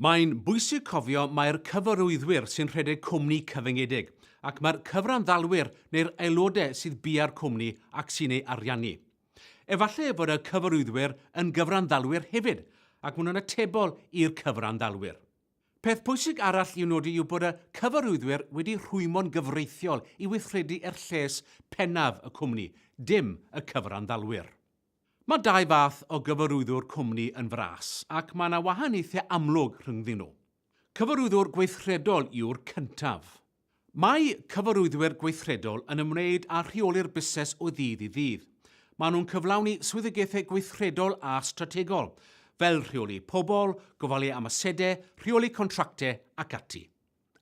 Mae'n bwysig cofio mai'r cyfarwyddwyr sy'n rhedeg cwmni cyfyngedig, ac mae'r cyfranddalwyr neu'r aelodau sydd bia'r cwmni ac sy'n ei ariannu. Efallai fod y cyfarwyddwyr yn gyfranddalwyr hefyd, ac maen nhw'n atebol i'r cyfranddalwyr. Peth pwysig arall i'w nodi yw bod y cyfarwyddwyr wedi rhwymo'n gyfreithiol i weithredu er lles pennaf y cwmni, dim y cyfranddalwyr. Mae dau fath o gyfarwyddwr cwmni yn fras ac mae yna wahaniaethau amlwg rhyngddyn nhw. Cyfarwyddwr gweithredol yw'r cyntaf. Mae cyfarwyddwyr gweithredol yn ymwneud â rheoli'r busnes o ddydd i ddydd. Maen nhw'n cyflawni swyddogaethau gweithredol a strategol, fel rheoli pobl, gofalu am asedau, rheoli contractau ac ati.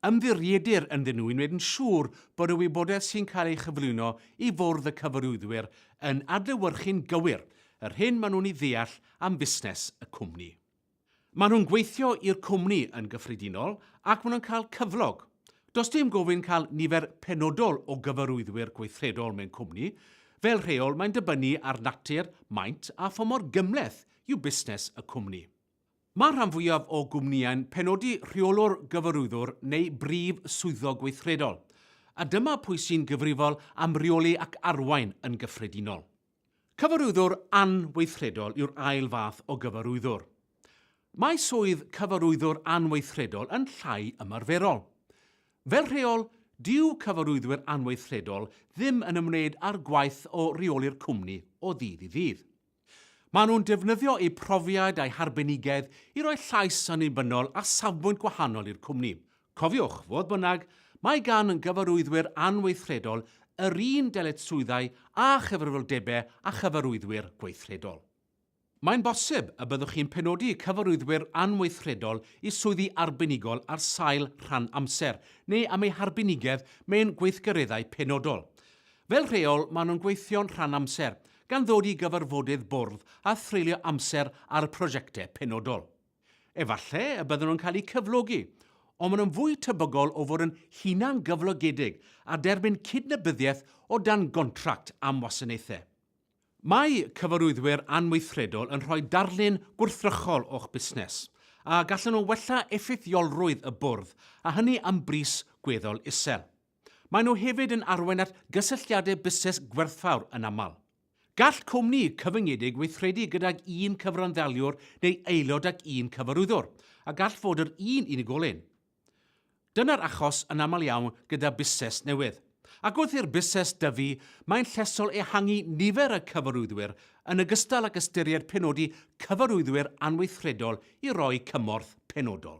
ymddirieddir ynddyn nhw i wneud yn siŵr bod y wybodaeth sy'n cael ei chyflwyno i Fwrdd y Cyfarwyddwyr yn adlewyrchu'n gywir yr hyn maen nhw'n ei ddeall am fusnes y cwmni. Maen nhw'n gweithio i'r cwmni yn gyffredinol ac maen nhw'n cael cyflog. Does dim gofyn cael nifer penodol o gyfarwyddwyr gweithredol mewn cwmni, fel rheol mae'n dibynnu ar natur, maint a pha mor gymhleth yw busnes y cwmni. Mae'r rhan fwyaf o gwmnïau'n penodi rheolwr gyfarwyddwr neu brif swyddog gweithredol, a dyma pwy sy'n gyfrifol am reoli ac arwain yn gyffredinol. Cyfarwyddwr anweithredol yw'r ail fath o gyfarwyddwr. Mae swydd cyfarwyddwr anweithredol yn llai ymarferol. Fel rheol, dyw cyfarwyddwyr anweithredol ddim yn ymwneud â'r gwaith o reoli'r cwmni o ddydd i ddydd. Maen nhw'n defnyddio eu profiad a'u harbenigedd i roi llais annibynnol a safbwynt gwahanol i'r cwmni. Cofiwch, fodd bynnag, mae gan gyfarwyddwyr anweithredol yr un dyletswyddau â chyfrifoldebau â chyfarwyddwyr gweithredol. Mae'n bosib y byddwch chi'n penodi cyfarwyddwyr anweithredol i swyddi arbenigol ar sail rhan amser neu am eu harbenigedd mewn gweithgareddau penodol. Fel rheol, maen nhw'n gweithio'n rhan amser, gan ddod i gyfarfodydd bwrdd a threulio amser ar prosiectau penodol. Efallai y bydden nhw'n cael eu cyflogi, ond maen nhw'n fwy tebygol o fod yn hunangyflogedig a derbyn cydnabyddiaeth o dan gontract am wasanaethau. Mae cyfarwyddwyr anweithredol yn rhoi darlun gwrthrychol o'ch busnes, a gallen nhw wella effeithiolrwydd y bwrdd, a hynny am bris gweddol isel. Maen nhw hefyd yn arwain at gysylltiadau busnes gwerthfawr yn aml. Gall cwmni cyfyngedig weithredu gydag un cyfranddaliwr neu aelod ac un cyfarwyddwr, a gall fod yr un unigolyn. Dyna'r achos yn aml iawn gyda busnes newydd. Ac wrth i'r busnes dyfu, mae'n llesol ehangu nifer y cyfarwyddwyr yn ogystal ac ystyried penodi cyfarwyddwyr anweithredol i roi cymorth penodol.